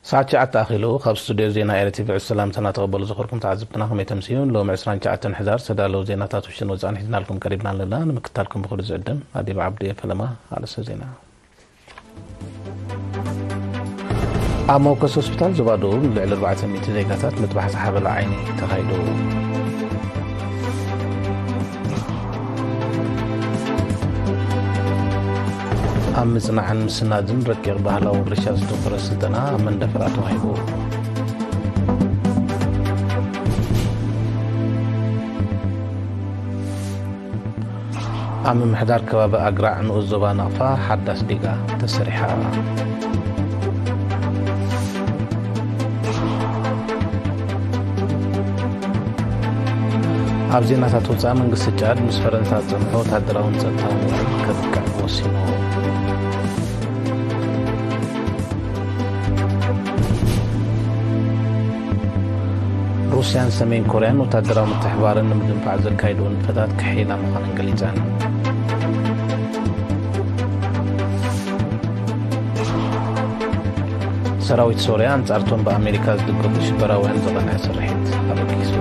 ሰዓት ሸዓተ ኣኺሉ ካብ ስቱድዮ ዜና ኤረ ቲቪ ዕስ ሰላምታ እናተቐበሉ ዝኸርኩም ተዓዘብትና ከመይ ተምስዩን ሎሚ 29 ሕዳር ዝተዳለዉ ዜናታት ውሽን ወፃእን ሒዝናልኩም ቀሪብና ኣለና ንምክታልኩም ብክሉ ዝዕድም ኣዲብ ዓብዱ እየ ፈለማ ኣርእስተ ዜና ኣብ መወከሲ ሆስፒታል ዞባ ደቡብ ንልዕሊ 400 ዜጋታት ምጥባሕ ዝሓበለ ዓይኒ ተኻይዱ ኣብ ምፅናዕን ምስናድን ረቂቕ ባህላዊ ወርሻ ዝተወፈረ ስልጠና ኣብ መንደፈራ ተዋሂቡ ኣብ ምምሕዳር ከባቢ ኣግራዕ ንኡስ ዞባ ናቕፋ ሓዳስ ዲጋ ተሰሪሓ። ኣብ ዜናታት ወፃኢ መንግስቲ ጫድ ምስ ፈረንሳ ዝፀንሖ ወታደራውን ፀጥታውን ውዕል ከብቅዕ ወሲኑ። ሩስያን ሰሜን ኮርያን ወታደራዊ ምትሕባርን ንምድንፋዕ ዘካይድዎ ንጥፈታት ክሕይላ ምዃነን ገሊፀን። ሰራዊት ሶርያ ኣንጻርቶም ብኣሜሪካ ዝድገፉ ሽበራውያን ዝቐንዐ ስርሒት ኣበጊሱ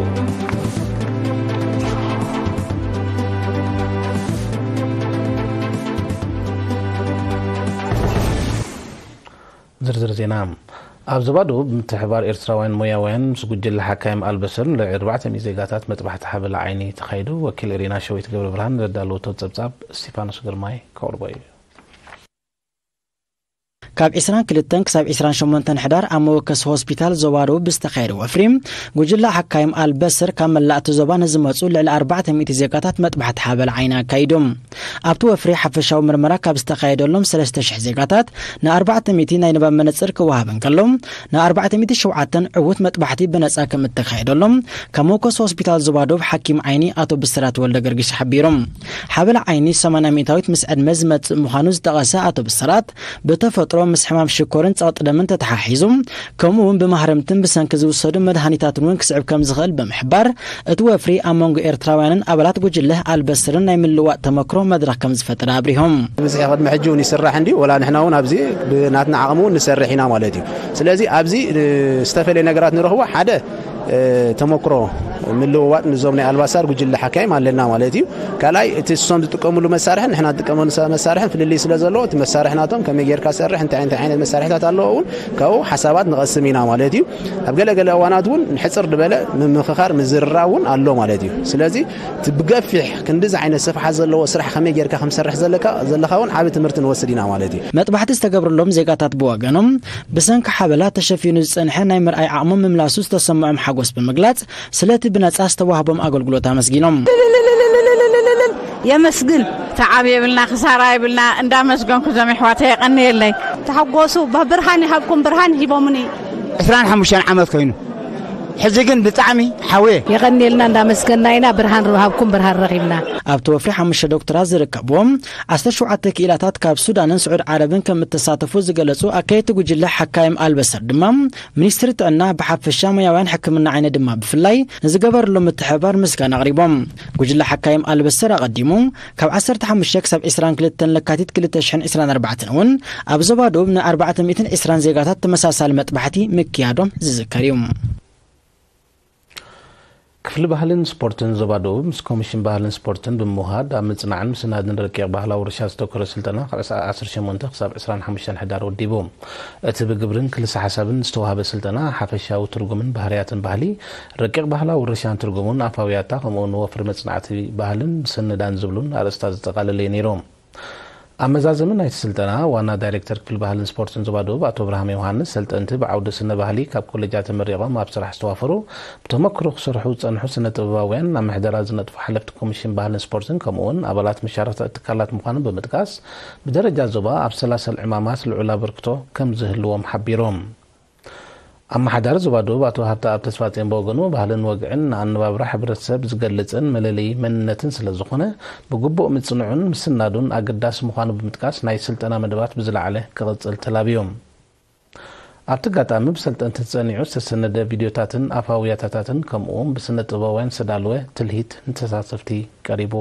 ዝርዝር ዜና፣ ኣብ ዞባ ደቡብ ብምትሕብባር ኤርትራውያን ሞያውያን ምስ ጉጅለ ሓካይም ኣልበስር ንልዕሊ ኣርባዕተ ሚእቲ ዜጋታት መጥባሕቲ ሓበላ ዓይኒ ተኻይዱ ወኪል ኤሪና ሸዊት ገብረብርሃን ዘዳለወቶ ጸብጻብ እስቲፋኖስ ግርማይ ከቕርቦ እዩ። ካብ ዒስራን ክልተን ክሳብ ዒስራን ሸሞንተን ሕዳር ኣብ መወከሲ ሆስፒታል ዞባ ደቡብ ብዝተኻየደ ወፍሪ ጉጅለ ሓካይም ኣልበስር ካብ መላእቲ ዞባ ንዝመጹ ልዕሊ ኣርባዕተ ሚእቲ ዜጋታት መጥባሕቲ ሓበላ ዓይኒ ኣካይዶም። ኣብቲ ወፍሪ ሓፈሻዊ ምርመራ ካብ ዝተኻየደሎም ሰለስተ ሽሕ ዜጋታት ንኣርባዕተ ሚእቲ ናይ ንባብ መነጽር ክወሃብ እንከሎ ንኣርባዕተ ሚእቲ ሸውዓተን ዕዉት መጥባሕቲ ብነጻ ከም እተኻየደሎም ካብ መውከሲ ሆስፒታል ዞባ ዶብ ሓኪም ዓይኒ ኣቶ ብስራት ወልደገርጊሽ ሓቢሩ። ሓበላ ዓይኒ ሰማንያ ሚእታዊት ምስ ዕድመ ዝመጽእ ምዃኑ ዝጠቐሰ ኣቶ ብስራት፣ ብተፈጥሮ ምስ ሕማም ሽኮርን ጸቕጢ ደምን ተተሓሒዙ ከምኡ እውን ብማህረምትን ብሰንኪ ዝውሰዱ መድሃኒታትን እውን ክስዕብ ከም ዝኽእል ብምሕባር እቲ ወፍሪ ኣብ መንጎ ኤርትራውያንን ኣባላት ጉጅለ ኣልበስርን ናይ ምልውዋጥ ተመክሮ መድረኽ ከም ዝፈጠረ ኣብሪሆም። ብዝሒ ቅድሚ ሕጂ እውን ይስራሕ እንድዩ ወላ ንሕና እውን ኣብዚ ብናትና ዓቕሚ እውን ንሰርሕ ኢና ማለት እዩ። ስለዚ ኣብዚ ዝተፈለየ ነገራት ንረኽቦ ሓደ ተመክሮ ምልውዋጥ ንዞም ናይ ኣልባሳር ጉጅለ ሓካይም ኣለና ማለት እዩ ካልኣይ እቲ እሶም ዝጥቀምሉ መሳርሕን ንሕና ዝጥቀመሉ መሳርሕን ፍልልይ ስለ ዘለዎ እቲ መሳርሒ ናቶም ከመይ ጌርካ ሰርሕ እንታይ እንታይ ዓይነት መሳርሕታት ኣለዎ እውን ካብኡ ሓሳባት ንቐስም ኢና ማለት እዩ ኣብ ገለገለ እዋናት እውን ንሕፅር ዝበለ ምምኽኻር ምዝርራ እውን ኣሎ ማለት እዩ ስለዚ እቲ ብገፊሕ ክንዲዚ ዓይነት ስፍሓት ዘለዎ ስራሕ ከመይ ጌርካ ከምሰርሕ ዘለካ ዘለካ እውን ዓብ ትምህርቲ ንወስድ ኢና ማለት እዩ መጥባሕቲ ዝተገብረሎም ዜጋታት ብወገኖም ብሰንኪ ሓበላ ተሸፊኑ ዝጸንሐ ናይ ምርኣይ ዓቕሞም ምምላሱ ዝተሰምዖም ሓጎስ ብምግላጽ ስለቲ ብነጻ ዝተዋህቦም ኣገልግሎት ኣመስጊኖም። የመስግን ተዓብ የብልና ክሳራ የብልና እንዳመስገንኩ እዞም የሕዋተይ የቐንየለይ። ተሓጎሱ ብርሃን ይሃብኩም ብርሃን ሂቦምኒ። ዕስራን ሓሙሽተን ዓመት ኮይኑ ሕዚ ግን ብጣዕሚ ሓውየ። የቐንየልና እንዳመስገና ኢና ብርሃን ሃብኩም ብርሃን ረኺብና። ኣብቲ ወፍሪ ሓሙሽተ ዶክተራት ዝርከብዎም ዓሰርተ ሸውዓተ ክኢላታት ካብ ሱዳንን ስዑድ ዓረብን ከም እተሳተፉ ዝገለጹ ኣካየድቲ ጉጅለ ሓካይም ኣልበሰር ድማ፣ ሚኒስትሪ ጥዕና ብሓፈሻ ሞያውያን ሕክምና ዓይኒ ድማ ብፍላይ ንዝገበርሎም ምትሕብባር ምስጋና ኣቕሪቦም። ጉጅለ ሓካይም ኣልበሰር ኣቐዲሙ ካብ ዓሰርተ ሓሙሽተ ክሳብ ዕስራን ክልተን ለካቲት ክልተ ሽሕን ዕስራን ኣርባዕተን እውን ኣብ ዞባ ደቡብ ን ኣርባዕተ ሚእትን ዕስራን ዜጋታት ተመሳሳሊ መጥባሕቲ ምክያዶም ዝዝከር እዩ። ክፍሊ ባህልን ስፖርትን ዞባ ደቡብ ምስ ኮሚሽን ባህልን ስፖርትን ብምውሃድ ኣብ ምፅናዕን ምስናድን ረቂቕ ባህላዊ ውርሻ ዘተኮረ ስልጠና ካብ ዕስራ ዓሰርተ ሸሞንተ ክሳብ ዕስራን ሓሙሽተን ሕዳር ወዲቡ። እቲ ብግብርን ክልሰ ሓሳብን ዝተውሃበ ስልጠና ሓፈሻዊ ትርጉምን ባህርያትን ባህሊ፣ ረቂቕ ባህላዊ ውርሻን ትርጉሙን፣ ኣፋዊ ያታ ከምኡ'ውን ወፍሪ መፅናዕቲ ባህልን ምስንዳን ዝብሉን ኣርእስታት ዘጠቓለለ እዩ ነይሩ። ኣብ መዛዘሚ ናይቲ ስልጠና፣ ዋና ዳይሬክተር ክፍሊ ባህልን ስፖርትን ዞባ ደቡብ ኣቶ ኣብርሃም ዮውሃንስ፣ ሰልጠንቲ ብዓውዲ ስነ ባህሊ ካብ ኮሌጃት ተመሪቖም ኣብ ስራሕ ዝተዋፈሩ፣ ብተመክሮ ክሰርሑ ዝጸንሑ ስነ ጥበባውያን፣ ኣብ ምሕደራ ዝነጥፉ ሓለፍቲ ኮሚሽን ባህልን ስፖርትን ከምኡ'ውን ኣባላት መሻርኽቲ ትካላት ምዃኖም ብምጥቃስ፣ ብደረጃ ዞባ ኣብ ሰላሰል ዕማማት ልዑል ኣበርክቶ ከምዝህልዎም ሓቢሮም። ኣመሓዳሪ ዞባ ደቡብ ኣቶ ሃብተኣብ ተስፋጼን ብወገኑ ባህልን ወግዕን ንኣነባብራ ሕብረተሰብ ዝገልፅን መለለዪ መንነትን ስለዝኾነ ብግቡእ ምፅንዑን ምስናዱን ኣገዳሲ ምዃኑ ብምጥቃስ ናይ ስልጠና መደባት ብዝለዓለ ክቕፅል ተላብዩ። ኣብቲ ኣጋጣሚ ብሰልጠንቲ ተፀኒዑ ዝተሰነደ ቪድዮታትን ኣፋዊ ያታታትን ከምኡ እውን ብስነ ጥበባውያን ዝተዳለወ ትልሂት ንተሳተፍቲ ቀሪቡ።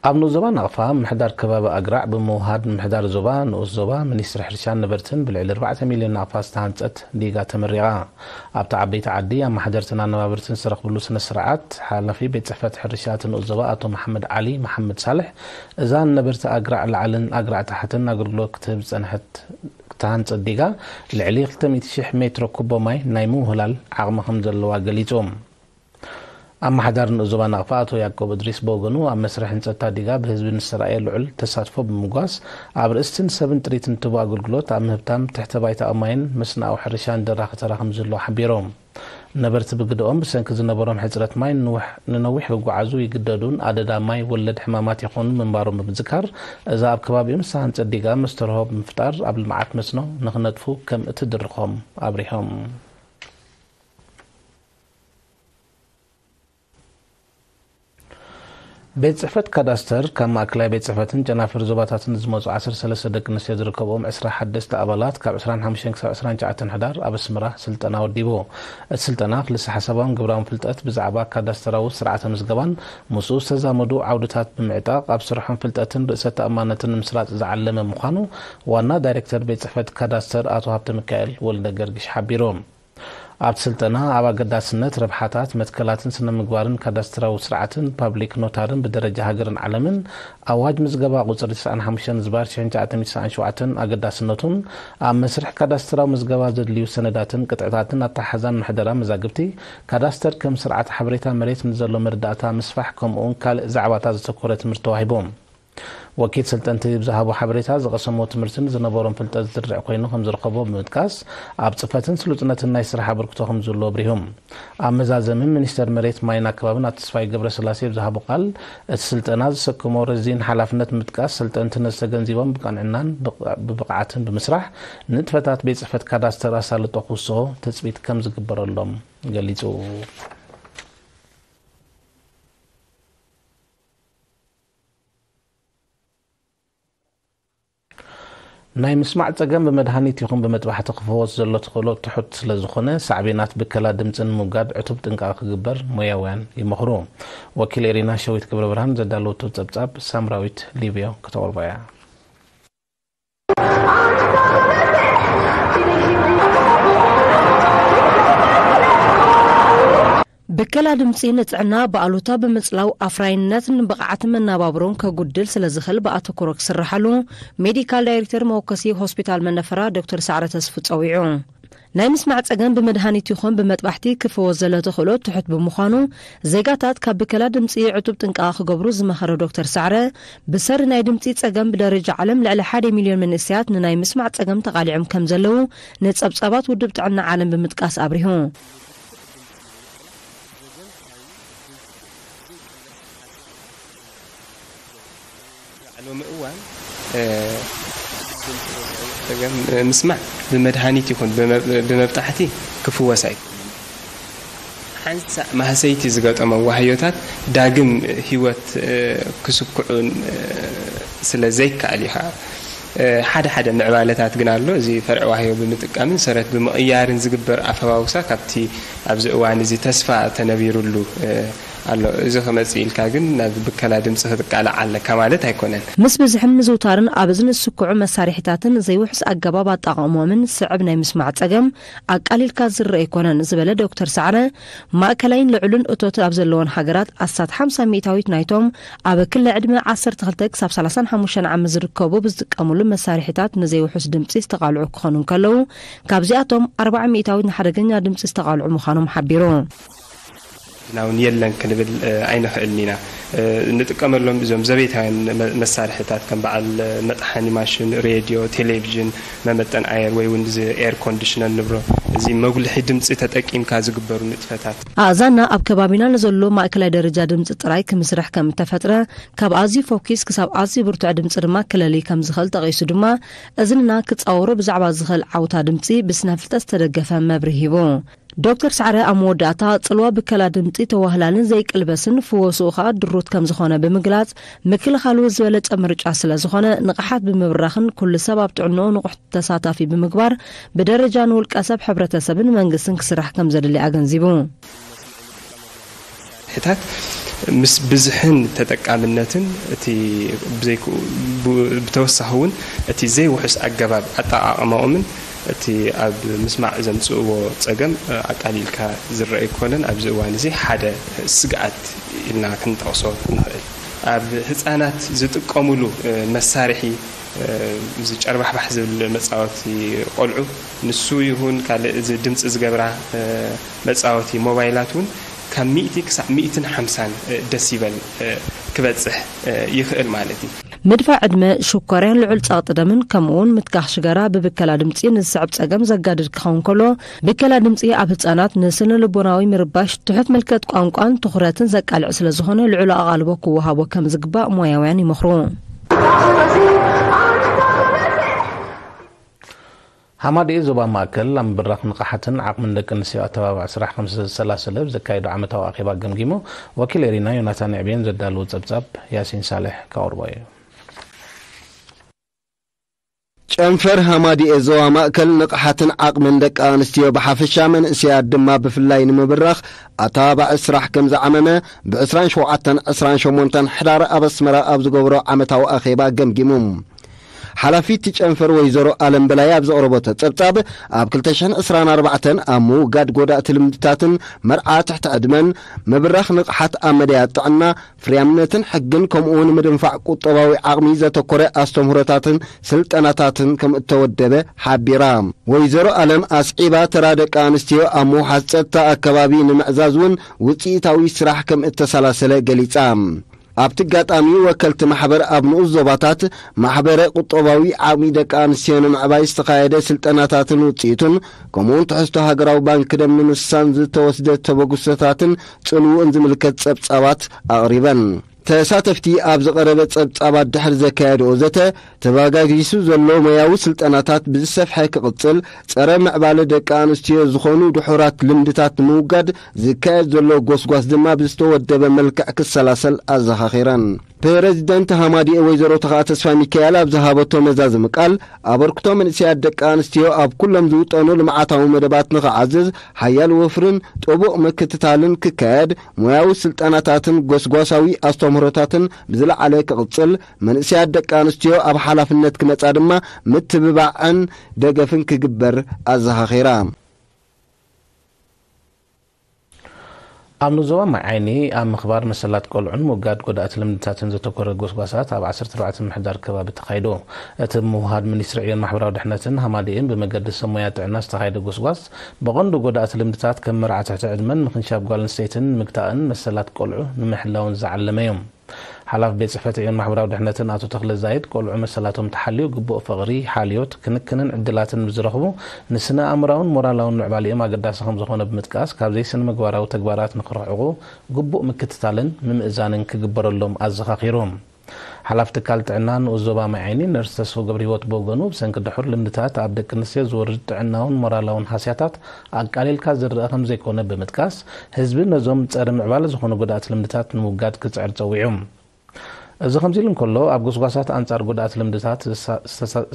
ኣብ ንኡስ ዞባ ናቕፋ ምምሕዳር ከባቢ ኣግራዕ ብምውሃድ ምምሕዳር ዞባ፣ ንኡስ ዞባ፣ ሚኒስትሪ ሕርሻን ነበርትን ብልዕሊ ኣርባዕተ ሚልዮን ናቕፋ ዝተሃንፀት ዲጋ ተመሪቓ። ኣብቲ ዓበይቲ ዓዲ ኣማሓደርትን ኣነባብርትን ዝተረኽብሉ ስነ ስርዓት ሓላፊ ቤት ፅሕፈት ሕርሻ እቲ ንኡስ ዞባ ኣቶ መሓመድ ዓሊ መሓመድ ሳልሕ እዛ ንነበርቲ ኣግራዕ ላዕልን ኣግራዕ ታሕትን ኣገልግሎት ክትህብ ዝፀንሐት ክታን ጸዲጋ ልዕሊ ክልተ ሚእቲ ሽሕ ሜትሮ ኩቦ ማይ ናይ ምውህላል ዓቕሚ ከምዘለዋ ገሊጹ። ኣመሓዳሪ ንኡስ ዞባ ናቕፋ ኣቶ ያቆብ እድሪስ ብወገኑ ኣብ መስርሕ ህንጸት'ታ ዲጋ ብህዝቢ ንዝተራእየ ልዑል ተሳትፎ ብምጉዋስ ኣብ ርእስቲን ሰብን ጥሪትን እትህቦ ኣገልግሎት ኣብ ምህብታም ትሕተ ባይታዊ ማይን መስኖኣዊ ሕርሻን ደራኺ ተራ ከምዝህልዎ ሓቢሩ። ነበርቲ ብግደኦም፣ ብሰንኪ ዝነበሮም ሕጽረት ማይ ንውሕ ንነዊሕ ክጓዓዙ ይግደዱን ኣደዳ ማይ ወለድ ሕማማት የኾኑን ምንባሮም ብምዝካር፣ እዛ ኣብ ከባቢኦም ዝተሃንጸት ዲጋ መስተርሆ ብምፍጣር ኣብ ልምዓት መስኖ ንክነጥፉ ከም እትድርኾም ኣብሪሆም። ቤት ፅሕፈት ካዳስተር ካብ ማእከላይ ቤት ፅሕፈትን ጨናፍር ዞባታትን ዝመፁ ዓሰርተ ሰለስተ ደቂ ኣንስትዮ ዝርከብኦም ዕስራ ሓደስቲ ኣባላት ካብ ዕስራን ሓሙሽተን ክሳብ ዕስራን ትሽዓተን ሕዳር ኣብ ኣስመራ ስልጠና ወዲቡ። እቲ ስልጠና ክልሰሓሳባውን ግብራውን ፍልጠት ብዛዕባ ካዳስተራዊ ስርዓተ ምዝገባን ምስኡ ዝተዛመዱ ዓውድታት ብምዕጣቕ ኣብ ስርሖም ፍልጠትን ርእሰ ተኣማንነትን ንምስራፅ ዝዓለመ ምዃኑ ዋና ዳይሬክተር ቤት ፅሕፈት ካዳስተር ኣቶ ሃብተሚካኤል ወልደገርግሽ ሓቢሩ። ኣብቲ ስልጠና ኣብ ኣገዳስነት ረብሓታት መትከላትን ስነ-ምግባርን ካዳስትራዊ ስርዓትን ፓብሊክ ኖታርን ብደረጃ ሃገርን ዓለምን ኣዋጅ ምዝገባ ቁጽሪ ትስዓን ሓሙሽተን ዝባር ሽሕን ትሽዓተ ሚእቲ ትስዓን ሸውዓተን ኣገዳስነቱን ኣብ መስርሕ ካዳስትራዊ ምዝገባ ዘድልዩ ሰነዳትን ቅጥዕታትን ኣተሓሕዛን ምሕደራ መዛግብቲ ካዳስተር ከም ስርዓተ ሓበሬታ መሬት ንዘሎ መረዳእታ ምስፋሕ ከምኡውን ካልእ ዛዕባታት ዘተኮረ ትምህርቲ ተዋሂቡ። ወኪል ሰልጠንቲ ብዝሃቦ ሓበሬታ፣ ዝቐሰምዎ ትምህርትን ዝነበሮም ፍልጠት ዝርድዕ ኮይኑ ከምዝረኸቦ ብምጥቃስ፣ ኣብ ፅፈትን ስሉጥነትን ናይ ስራሕ ኣበርክቶ ከምዝህሉ ኣብሪሁ። ኣብ መዛዘሚ ሚኒስተር መሬት፣ ማይን ኣከባብን ኣቶ ተስፋይ ገብረስላሴ ብዝሃቦ ቃል፣ እቲ ስልጠና ዘሰከሞ ረዚን ሓላፍነት ብምጥቃስ፣ ሰልጠንቲ ነዚ ተገንዚቦም ብቐንዕናን ብብቕዓትን ብምስራሕ ንጥፈታት ቤት ፅሕፈት ካዳስተር ኣሳልጦ ክውስኹ ትፅቢት ከምዝግበረሎም ገሊፁ። ናይ ምስማዕ ጸገም ብመድሃኒት ይኹን ብመጥባሕቲ ክፈወስ ዘሎ ተኽእሎ ትሑት ስለ ዝኾነ ሳዕቤናት ብከላ ድምጺ ንምውጋድ ዕቱብ ጥንቃቐ ክግበር ሞያውያን ይመኽሩ። ወኪል ኤሪና ሸዊት ገብረብርሃን ዘዳለወቶ ጸብጻብ ሳምራዊት ሊብዮ ክተቕርቦ እያ። ብከላ ድምፂ ንጥዕና ብኣሉታ ብምፅላው ኣፍራይነት ንብቕዓት መናባብሮን ከጉድል ስለዝኽል ብኣተኩሮ ክስራሓሉ ሜዲካል ዳይሬክተር መወከሲ ሆስፒታል መነፈራ ዶክተር ሳዕረ ተስፉ ፀዊዑ ናይ ምስማዕ ጸገም ብመድሃኒት ይኹን ብመጥባሕቲ ክፍወስ ዘሎ ተኽእሎ ትሑት ብምዃኑ፣ ዜጋታት ካብ ብከላ ድምጺ ዕቱብ ጥንቃቐ ክገብሩ ዝመኸረ ዶክተር ሰዕረ፣ ብሰሪ ናይ ድምጺ ጸገም ብደረጃ ዓለም ልዕሊ ሓደ ሚልዮን መንእሰያት ንናይ ምስማዕ ጸገም ተቓሊዖም ከምዘለዉ ንጸብጻባት ውድብ ጥዕና ዓለም ብምጥቃስ ኣብሪሁ። ሎሚ እዋን ምስማዕ ብመድሃኒት ይኹን ብመብጣሕቲ ክፍወስ ኣይክእልን። ሓንሳእ ማህሰይቲ ዝገጠሞ ዋህዮታት ዳግም ህይወት ክስክዑ ስለ ዘይከኣል እዩ ከዓ ሓደ ሓደ ምዕባለታት ግን ኣሎ እዚ ፈርዒ ዋህዮ ብምጥቃምን ሰረት ብምቕያርን ዝግበር ኣፈባውሳ ካብቲ ኣብዚ እዋን እዚ ተስፋ ተነቢሩሉ ኣሎ እዚ ክመጽእ ኢልካ ግን ናብ ብከላ ድምጺ ክትቃላዕ ኣለካ ማለት ኣይኮነን። ምስ ብዝሕን ምዝውታርን ኣብ እዝኒ ዝስኩዑ መሳርሒታትን ዘይውሑስ ኣገባብ ኣጠቓቕምኦምን ዝስዕብ ናይ ምስማዕ ጸገም ኣቃሊልካ ዝርእ ኣይኮነን ዝበለ ዶክተር ሰዓረ፣ ማእከላይን ልዑልን እቶት ኣብ ዘለወን ሃገራት ኣስታት ሓምሳ ሚእታዊት ናይቶም ኣብ ክሊ ዕድመ ዓሰርተ ክልተ ክሳብ ሰላሳን ሓሙሽተን ዓመት ዝርከቡ ብዝጥቀምሉ መሳርሒታት ንዘይውሑስ ድምጺ ዝተቓልዑ ክኾኑ እንከለዉ፣ ካብዚኣቶም ኣርባዓ ሚእታዊት ንሓደገኛ ድምጺ ዝተቓልዑ ምዃኖም ሓቢሩ። ሕጂና እውን የለን ክንብል ኣይንኽእልን ኢና። እንጥቀመሎም እዞም ዘቤታውያን መሳርሒታት ከም በዓል መጥሓኒ ማሽን፣ ሬድዮ፣ ቴሌቪዥን፣ መመጠን ኣየር ወይ እውን እዚ ኤር ኮንዲሽነር ንብሎ እዚ መጉልሒ ድምጺ ተጠቂምካ ዝግበሩ ንጥፈታት። ኣእዛንና ኣብ ከባቢና ንዘሎ ማእከላይ ደረጃ ድምጺ ጥራይ ክምስርሕ ከም እተፈጥረ፣ ካብ ኣዝዩ ፈኲስ ክሳብ ኣዝዩ ብርቱዕ ድምጺ ድማ ክለልይ ከም ዝኽእል ጠቒሱ ድማ፣ እዝንና ክጻወሮ ብዛዕባ ዝኽእል ዓውታ ድምጺ ብስነ-ፍልጠት ዝተደገፈ መብርሂ ሂቡ። ዶክተር ሰዕረ ኣብ መወዳእታ፣ ጽልዋ ብከላ ድምጺ ተዋህላልን ዘይቅልበስን ፍወስኡ ከኣ ድሩት ከም ዝኾነ ብምግላጽ፣ ምክልኻሉ ዝበለጸ ምርጫ ስለ ዝኾነ፣ ንቕሓት ብምብራኽን ኩሉ ሰብ ኣብ ጥዕንኡ ንቑሕ ተሳታፊ ብምግባር ብደረጃ ንውልቀሰብ፣ ሕብረተሰብን መንግስትን ክስራሕ ከም ዘድሊ ኣገንዚቡ። መሳርሒታት ምስ ብዝሕን ተጠቃምነትን እቲ ብዘይክኡ ብተወሳኺ እውን እቲ ዘይውሑስ ኣገባብ ኣጠቓቕማኦምን እቲ ኣብ ምስማዕ ዘምፅእዎ ፀገም ኣቃሊልካ ዝረኣ ኣይኮነን። ኣብዚ እዋን እዚ ሓደ ስግኣት ኢልና ክንጠቕሶ ንኽእል። ኣብ ህፃናት ዝጥቀሙሉ መሳርሒ እዚ ጨርባሕባሕ ዝብል መፃወቲ ቆልዑ ንሱ ይኹን ካልእ እዚ ድምፂ ዝገብራ መጻወቲ ሞባይላት እውን ካብ ሚእቲ ክሳዕ ሚእትን ሓምሳን ደሲበል ክበጽሕ ይኽእል ማለት እዩ። ምድፋእ ዕድመ፣ ሽኮርያ፣ ልዑል ጸቕጢ ደምን ከምኡውን ምትካኽ ሽጋራ ብብከላ ድምጺ ንዝስዕብ ጸገም ዘጋድድ ክኸውን ከሎ፣ ብከላ ድምጺ ኣብ ህጻናት ንስነልቦናዊ ምርባሽ፣ ትሑት ምልከት ቋንቋን ትኹረትን ዘቃልዕ ስለ ዝኾነ ልዑል ኣቓልቦ ክወሃቦ ከም ዝግባእ ሞያውያን ይመኽሩ። ሃማደኤ ዞባ ማእከል ኣብ ምብራኽ ንቕሓትን ዓቕምን ደቂ ኣንስትዮ ኣተባባዒ ስራሕ ከምስዘሰላሰለ ኣብ ዘካየዶ ዓመታዊ ኣኼባ ገምጊሙ። ወኪል ኤሪና ዮናታን ንዕቤን ዘዳለዎ ጸብጻብ ያሲን ሳልሕ ከቕርቦ እዩ። ጨንፈር ሃማድኤ ዞባ ማእከል ንቕሓትን ዓቕምን ደቂ ኣንስትዮ ብሓፈሻ መንእሰያት ድማ ብፍላይ ንምብራኽ ኣተባባዒ ስራሕ ከም ዝዓመመ ብ27፣ 28 ሕዳር ኣብ ኣስመራ ኣብ ዝገብሮ ዓመታዊ ኣኼባ ገምጊሙ። ሓላፊት ጨንፈር ወይዘሮ ኣለም በላይ ኣብ ዘቕረቦቶ ጸብጻብ ኣብ 2024 ኣብ ምውጋድ ጎዳእቲ ልምድታትን መርዓ ትሕቲ ዕድመን ምብራኽ ንቕሓት ኣብ መዳያት ጥዕና ፍርያምነትን ሕግን ከምኡውን ምድንፋዕ ቁጠባዊ ዓቕሚ ዘተኮረ ኣስተምህሮታትን ስልጠናታትን ከም እተወደበ ሓቢራ። ወይዘሮ ኣለም ኣስዒባ ተራ ደቂ ኣንስትዮ ኣብ ምውሓስ ጸጥታ ኣከባቢ ንምዕዛዝ እውን ውጽኢታዊ ስራሕ ከም እተሰላሰለ ገሊጻ። ኣብቲ ኣጋጣሚ ወከልቲ ማሕበር ኣብ ንኡስ ዞባታት ማሕበረ ቁጠባዊ ዓቕሚ ደቂ ኣንስትዮ ንምዕባይ ዝተኻየደ ስልጠናታትን ውፅኢቱን ከምኡውን ትሕዝቶ ሃገራዊ ባንኪ ደም ንምስሳን ዝተወስደ ተበግሶታትን ፅልውኡን ዝምልከት ፀብፃባት ኣቕሪበን። ተሳተፍቲ ኣብ ዝቐረበ ፀብፃባት ድሕሪ ዘካየድኦ ዘተ ተባጋጊሱ ዘሎ ሞያዊ ስልጠናታት ብዝሰፍሐ ክቕጽል፣ ጸረ ምዕባለ ደቂ ኣንስትዮ ዝኾኑ ድሑራት ልምድታት ንምውጋድ ዝካየድ ዘሎ ጎስጓስ ድማ ብዝተወደበ መልክዕ ክሰላሰል ኣዘኻኺረን። ፕረዚደንት ሃማዲኤ ወይዘሮ ተኽኣ ተስፋሚካኤል ኣብ ዝሃበቶ መዛዘሚ ቃል፣ ኣበርክቶ መንእሰያት ደቂ ኣንስትዮ ኣብ ኩሎም ዝውጠኑ ልምዓታዊ መደባት ንኽዓዝዝ ሓያል ወፍርን ጥቡቕ ምክትታልን ክካየድ፣ ሞያዊ ስልጠናታትን ጎስጓሳዊ ኣስተምህሮታትን ብዝለዓለ ክቕጽል፣ መንእሰያት ደቂ ኣንስትዮ ኣብ ሓላፍነት ክመጻ ድማ ምትብባዕን ደገፍን ክግበር ኣዘኻኺራ። ኣብ ዞባ ማይ ዓይኒ ኣብ ምኽባር መሰላት ቆልዑን ምውጋድ ጎዳእቲ ልምድታትን ዘተኮረ ጎስጓሳት ኣብ ዓሰርተ ኣርባዕተ ምምሕዳር ከባቢ ተኻይዱ። እቲ ብምውህሃድ ሚኒስትሪ ዕዮን ማሕበራዊ ድሕነትን ሃማደኤን ብመገዲ ሰብ ሞያ ጥዕና ዝተኻየደ ጎስጓስ ብቐንዱ ጎዳእቲ ልምድታት ከም መርዓ ትሕቲ ዕድመን ምኽንሻብ ጓል ኣንስተይትን ንምግታእን መሰላት ቆልዑ ንምሕላውን ዝዓለመ'ዩ። ሓላፊ ቤት ፅሕፈት ዕዮን ማሕበራዊ ድሕነትን ኣቶ ተኽለ ዛይድ፣ ቆልዑ መሰላቶም ተሓልዩ ግቡእ ፍቕሪ፣ ሓልዮት፣ ክንክንን ዕድላትን ምስ ዝረኽቡ ንስነ ኣእምራውን ሞራላውን ምዕባሌኦም ኣገዳሲ ከምዝኾነ ብምጥቃስ ካብ ዘይስነምግባራዊ ተግባራት ንክርሕቑ ግቡእ ምክትታልን ምምእዛንን ክግበረሎም ኣዘኻኺሩ። ሓላፊ ትካል ጥዕና ንኡስ ዞባ ማይ ዓይኒ ነርስ ተስፉ ገብርሂወት ብወገኑ ብሰንኪ ድሑር ልምድታት ኣብ ደቂ ኣንስትዮ ዝወርድ ጥዕናውን ሞራላውን ሃስያታት ኣቃሊልካ ዝርኣ ከምዘይኮነ ብምጥቃስ፣ ህዝቢ ነዞም ጸረ ምዕባለ ዝኾኑ ጎዳእቲ ልምድታት ንምውጋድ ክጽዕር ጸዊዑ። እዚ ከምዚ ኢሉ እንከሎ፣ ኣብ ጎስጓሳት ኣንጻር ጎዳእቲ ልምድታት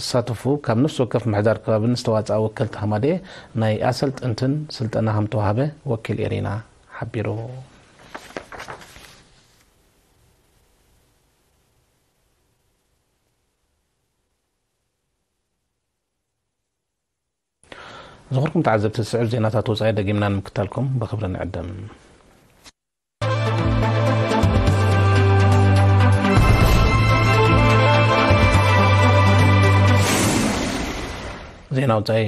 ዝሳተፉ ካብ ነፍሲ ወከፍ ምሕዳር ከባቢን ዝተዋጽኣ ወከልቲ ሃማደኤ ናይ ኣሰልጠንትን ስልጠና ከምተዋህበ ወኪል ኤሪና ሓቢሩ። ዝኽርኩም ተዓዘብቲ ዝስዕብ ዜናታት ወጻኢ ደጊምና ንምክታልኩም ብክብሪ ንዕድም። ዜና ውፃኢ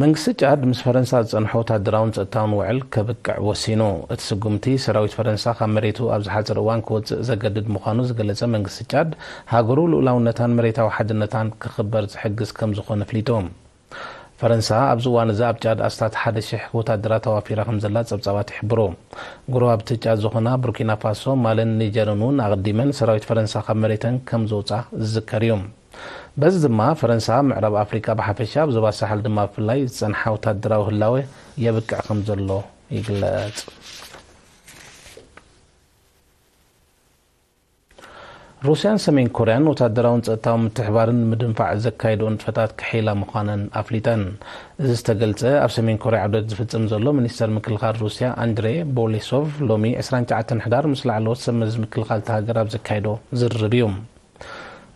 መንግስቲ ጫድ ምስ ፈረንሳ ዝፀንሖ ወታደራውን ፀጥታውን ውዕል ከብቅዕ ወሲኑ እቲ ስጉምቲ ሰራዊት ፈረንሳ ካብ መሬቱ ኣብ ዝሓፅር እዋን ክወፅእ ዘገድድ ምዃኑ ዝገለፀ መንግስቲ ጫድ ሃገሩ ልኡላውነታን መሬታዊ ሓድነታን ክኽበር ዝሕግዝ ከም ዝኾነ ኣፍሊጡ ፈረንሳ ኣብዚ እዋን'ዚ ኣብ ጫድ ኣስታት ሓደ ሽሕ ወታደራት ኣዋፊራ ከምዘላ ጸብጻባት ይሕብሩ። ጎረባብቲ ጫድ ዝኾና ቡርኪናፋሶ፣ ማልን ኒጀርን'ውን ኣቐዲመን ሰራዊት ፈረንሳ ካብ መሬተን ከምዘውጽኣ ዝዝከር'ዩ። በዚ ድማ ፈረንሳ ኣብ ምዕራብ ኣፍሪቃ ብሓፈሻ ኣብ ዞባ ሳሕል ድማ ብፍላይ ዝጸንሓ ወታደራዊ ህላወ የብቅዕ ከምዘሎ ይግለጽ። ሩስያን ሰሜን ኮርያን ወታደራውን ጸጥታውን ምትሕብባርን ንምድንፋዕ ዘካይድኦ ንጥፈታት ክሕይላ ምዃነን ኣፍሊጠን። እዚ ዝተገልጸ፣ ኣብ ሰሜን ኮርያ ዑደት ዝፍጽም ዘሎ ሚኒስተር ምክልኻል ሩስያ ኣንድሬ ቦሌሶቭ ሎሚ ዕስራን ትሽዓተን ሕዳር ምስ ላዕለዎት ሰብ መዚ ምክልኻል እታ ሃገር ኣብ ዘካየዶ ዝርርብ እዩ።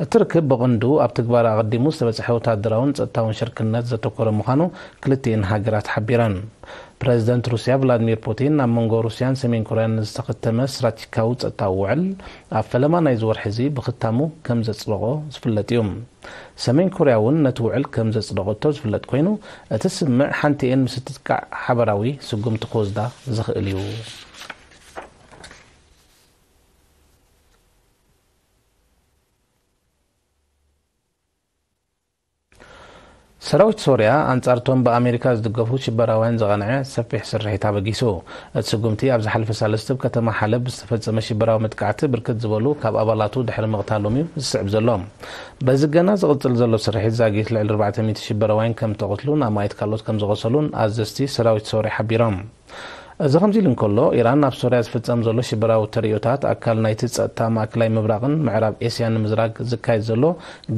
እቲ ርክብ ብቕንዱ ኣብ ትግባረ ኣቐዲሙ ዝተበጽሐ ወተሃደራውን ጸጥታውን ሽርክነት ዘተኮረ ምዃኑ ክልቲኤን ሃገራት ሓቢረን። ፕረዚደንት ሩስያ ቭላድሚር ፑቲን ኣብ መንጎ ሩስያን ሰሜን ኮርያን ንዝተኸተመ ስትራቴጂካዊ ጸጥታዊ ውዕል ኣብ ፈለማ ናይዚ ወርሒ'ዚ ብኽታሙ ከም ዘጽደቖ ዝፍለጥ'ዩ። ሰሜን ኮርያ'ውን ነቲ ውዕል ከም ዘጽደቐቶ ዝፍለጥ ኮይኑ፣ እቲ ስምምዕ ሓንቲኤን ምስ እትጥቃዕ ሓበራዊ ስጉምቲ ክወስዳ ዝኽእል'ዩ። ሰራዊት ሶርያ ኣንጻርቶም ብኣሜሪካ ዝድገፉ ሽበራውያን ዝቐንዐ ሰፊሕ ስርሒት ኣበጊሱ። እቲ ስጉምቲ ኣብ ዝሓለፈ ሳልስትብ ከተማ ሓለብ ብዝተፈጸመ ሽበራዊ መጥቃዕቲ ብርክት ዝበሉ ካብ ኣባላቱ ድሕሪ ምቕታሎም እዩ ዝስዕብ ዘሎ። በዚ ገና ዝቕጽል ዘሎ ስርሒት ዛጊት ልዕሊ ኣርባዕተ ሚእቲ ሽበራውያን ከም እተቐትሉን ኣማኢት ካልኦት ከም ዝቖሰሉን ኣዘዝቲ ሰራዊት ሶርያ ሓቢሮም። እዚ ከምዚ ኢሉ እንከሎ፣ ኢራን ኣብ ሶርያ ዝፍጸም ዘሎ ሽበራዊ ተርእዮታት ኣካል ናይቲ ጸጥታ ማእከላይ ምብራቕን ምዕራብ ኤስያን ንምዝራግ ዝካየድ ዘሎ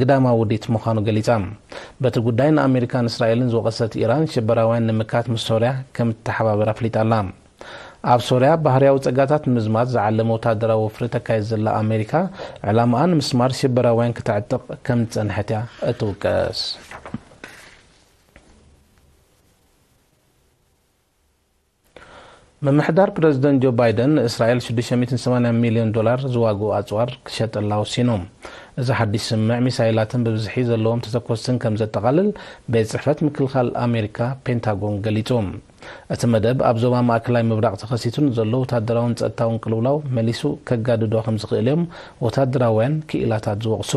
ግዳማዊ ውዲት ምዃኑ ገሊጻ። በቲ ጉዳይ ንኣመሪካን እስራኤልን ዝወቐሰት ኢራን፣ ሽበራውያን ንምምካት ምስ ሶርያ ከም እትተሓባበር ኣፍሊጣ ኣላ። ኣብ ሶርያ ባህርያዊ ጸጋታት ንምዝማት ዝዓለመ ወተሃደራዊ ወፍሪ ተካይድ ዘላ ኣመሪካ፣ ዕላማኣ ንምስማር ሽበራውያን ክተዕጥቕ ከም ዝጸንሐት እያ እትውቀስ። ምምሕዳር ፕረዚደንት ጆ ባይደን ንእስራኤል ሽዱሽተ ሚእትን ሰማንያን ሚልዮን ዶላር ዝዋግኡ ኣጽዋር ክሸጠላ ወሲኑ። እዚ ሓድሽ ስምምዕ ሚሳይላትን ብብዝሒ ዘለዎም ተተኮስትን ከም ዘጠቓልል ቤት ጽሕፈት ምክልኻል ኣሜሪካ፣ ፔንታጎን፣ ገሊጹ። እቲ መደብ ኣብ ዞባ ማእከላይ ምብራቕ ተኸሲቱ ንዘሎ ወተሃደራውን ጸጥታውን ቅልውላው መሊሱ ከጋድዶ ከም ዝኽእል'ዮም ወተሃደራውያን ክኢላታት ዝወቕሱ።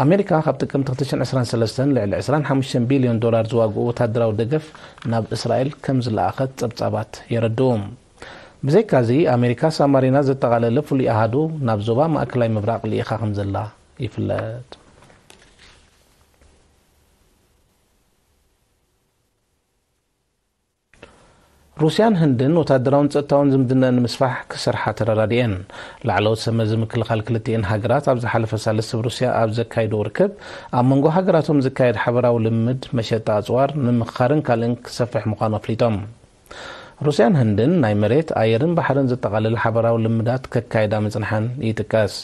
ኣሜሪካ ካብ ጥቅምቲ ክልተ ሽሕን ዕስራን ሰለስተን ልዕሊ ዕስራን ሓሙሽተን ቢልዮን ዶላር ዝዋግኡ ወታደራዊ ደገፍ ናብ እስራኤል ከም ዝለኣኸት ጸብጻባት የረድኡ። ብዘይካ'ዚ ኣሜሪካ ሳማሪና ዘጠቓለለ ፍሉይ ኣሃዱ ናብ ዞባ ማእከላይ ምብራቕ ልኢኻ ከም ዘላ ይፍለጥ። ሩስያን ህንድን ወታደራውን ጸጥታውን ዝምድነኣን ንምስፋሕ ክሰርሓ ተረዳዲኤን። ላዕለዎት ሰብመዚ ምክልኻል ክልቲኤን ሃገራት ኣብ ዝሓለፈ ሳልስቲ ብ ሩስያ ኣብ ዘካይድዎ ርክብ ኣብ መንጎ ሃገራቶም ዝካየድ ሓበራዊ ልምምድ መሸጣ ኣጽዋር ንምምኽኻርን ካልእን ክሰፍሕ ምዃኑ ኣፍሊጦም። ሩስያን ህንድን ናይ መሬት፣ ኣየርን ባሕርን ዘጠቓልል ሓበራዊ ልምዳት ከካይዳ ምጽንሐን ይጥቀስ።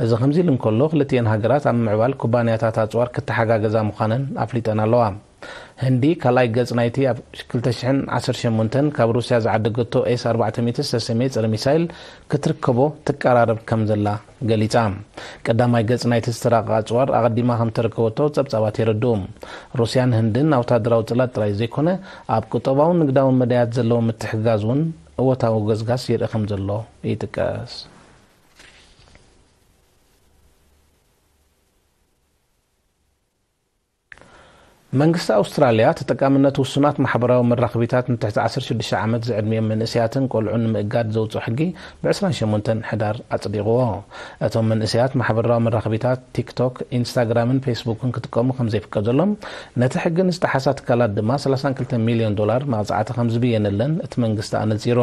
እዚ ከምዚ'ሉ እንከሎ ክልቲኤን ሃገራት ኣብ ምምዕባል ኩባንያታት ኣጽዋር ክተሓጋገዛ ምዃነን ኣፍሊጠን ኣለዋ። ህንዲ ካልኣይ ገጽ ናይቲ ኣብ ክልተ ሽሕን ዓሰርተ ሸሞንተን ካብ ሩስያ ዝዓደገቶ ኤስ ኣርባዕተ ሚእቲ ዝተሰምየ ጸረ ሚሳይል ክትርከቦ ትቀራረብ ከም ዘላ ገሊጻ። ቀዳማይ ገጽ ናይቲ ዝተራቐቐ ኣጽዋር ኣቐዲማ ከም እተረከበቶ ጸብጻባት የረድኡ። ሩስያን ህንድን ናውታደራዊ ጽላት ጥራይ ዘይኮነ ኣብ ቁጠባውን ንግዳውን መዳያት ዘለዎም ምትሕግጋዝ እውን እወታዊ ገስጋስ ይርኢ ከም ዘሎ ይጥቀስ። መንግስቲ ኣውስትራልያ ተጠቃምነት ውሱናት ማሕበራዊ መራኽቢታት ንትሕቲ ዓሰርተ ሽዱሽተ ዓመት ዝዕድሚኦም መንእሰያትን ቆልዑን ንምእጋድ ዘውጽኦ ሕጊ ብ ዕስራን ሸሞንተን ሕዳር ኣጽዲቕዎ። እቶም መንእሰያት ማሕበርራዊ መራኽቢታት ቲክቶክ፣ ኢንስታግራምን ፌስቡክን ክጥቀሙ ከምዘይፍቀዘሎም ነቲ ሕጊ ንዝጠሓሳ ትካላት ድማ ሰላሳን ክልተን ሚልዮን ዶላር መቕጻዕቲ ከምዝብየነለን እቲ መንግስቲ ኣነጺሩ።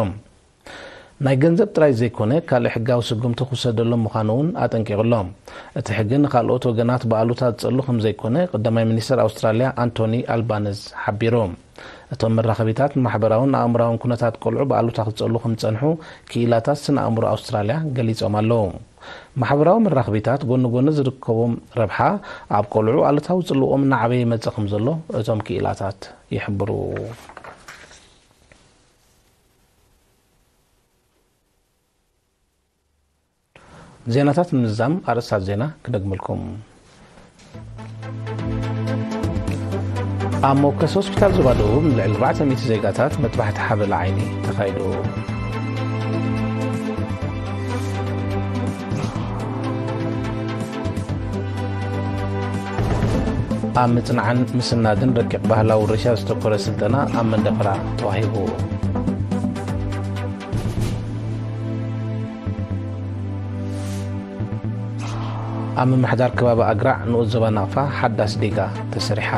ናይ ገንዘብ ጥራይ ዘይኮነ ካልእ ሕጋዊ ስጉምቲ ክውሰደሎም ምዃኑ'ውን ኣጠንቂቑ'ሎ። እቲ ሕጊ ንኻልኦት ወገናት ብኣሉታ ዝጸሉ ከምዘይኮነ ቐዳማይ ሚኒስተር ኣውስትራልያ ኣንቶኒ ኣልባነዝ ሓቢሩ። እቶም መራኸቢታት ንማሕበራውን ኣእምሮኣውን ኩነታት ቈልዑ ብኣሉታ ክጸሉ ከምዝጸንሑ ክኢላታት ስነ ኣእምሮ ኣውስትራልያ ገሊጾም ኣለዉ። ማሕበራዊ መራኽቢታት ጎኒ ጎኒ ዝርከቦም ረብሓ፣ ኣብ ቈልዑ ኣሉታዊ ጽልወኦም እናዓበየ ይመጽእ ከምዘሎ እቶም ክኢላታት ይሕብሩ። ዜናታት ንምዝዛም ኣርእስታት ዜና ክደግመልኩም። ኣብ ሞከስ ሆስፒታል ዞባ ደቡብ ንልዕሊ 400 ዜጋታት መጥባሕቲ ሓበላ ዓይኒ ተኻይዱ። ኣብ ምጽናዕን ምስናድን ረቂቕ ባህላዊ ርሻ ዝተኮረ ስልጠና ኣብ መንደፈራ ተዋሂቡ ኣብ ምምሕዳር ከባቢ ኣግራዕ ንኡስ ዞባ ናቕፋ ሓዳስ ዲጋ ተሰሪሓ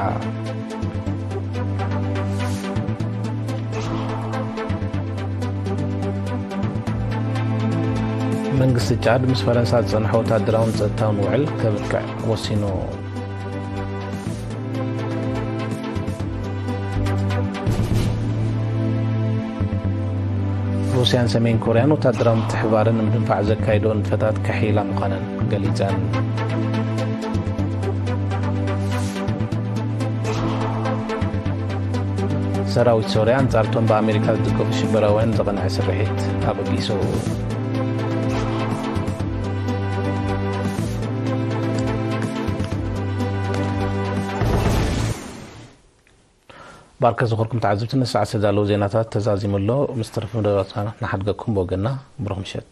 መንግስቲ ጫድ ምስ ፈረንሳ ዝጸንሐ ወታደራውን ጸጥታውን ውዕል ከብቅዕ ወሲኑ። ሩስያን ሰሜን ኮርያን ወታደራዊ ምትሕባርን ንምድንፋዕ ዘካይዶ ንጥፈታት ከሕይላ ምዃነን ገሊፀን። ሰራዊት ሶርያ ኣንጻርቶም ብኣሜሪካ ዝድገፉ ሽበራውያን ዘቐንዐ ስርሒት ኣበጊሱ። ባርከ ዝኾርኩም ተዓዝብቲ ንሰዓት ዝተዳለዉ ዜናታት ተዛዚሙ ኣሎ ምስ ተረፈ መደባትና ንሓድገኩም ብወገና ብሩኽ ምሸት